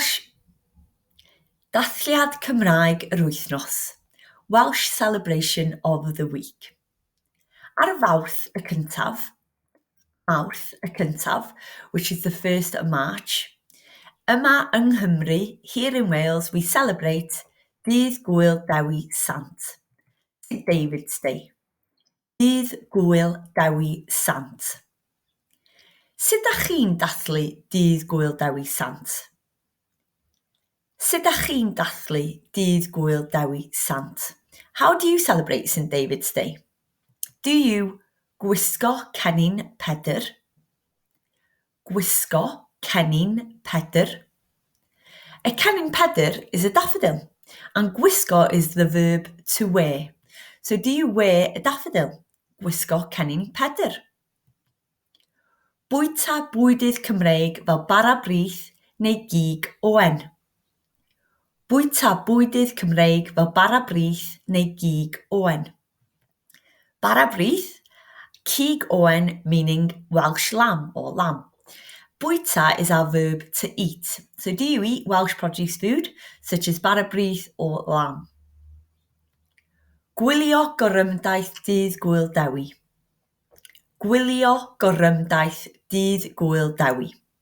Welsh, Dathliad Cymraeg yr Wythnos, Welsh Celebration of the Week. Ar Fawrth y cyntaf, Mawrth y cyntaf, which is the 1st of March, yma yng Nghymru, here in Wales, we celebrate Dydd Gŵyl Dewi Sant, St David's Day. Dydd Gŵyl Dewi Sant. Sut dach chi'n dathlu Dydd Gŵyl Dewi Sant? Sut dach chi'n dathlu Dydd Gŵyl Dewi Sant? How do you celebrate St David's Day? Do you gwisgo cennin Pedr? Gwisgo cennin Pedr A cennin Pedr is a daffodil, and gwisgo is the verb to wear. So do you wear a daffodil? Gwisgo cennin Pedr. Bwyta bwydydd Cymreig fel bara brith neu gig oen. Bwyta bwydydd Cymreig fel bara brith neu gig oen. Bara brith, cig oen meaning Welsh lamb or lamb. Bwyta is our verb to eat, so do you eat Welsh produce food such as bara brith or lamb? Gwylio gorymdaith dydd Gŵyl Dewi Gwylio gorymdaith dydd Gŵyl Dewi.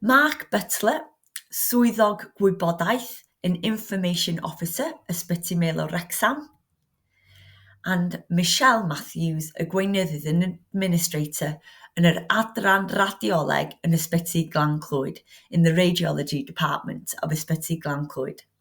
Mark Butler, Swyddog Gwybodaeth and Information Officer Ysbyty Maelor Wrecsam, and Michelle Matthews, y Gweinyddyd and Administrator yn yr Adran Radioleg yn Ysbyty Glan Clwyd, in the Radiology Department of Ysbyty Glan Clwyd.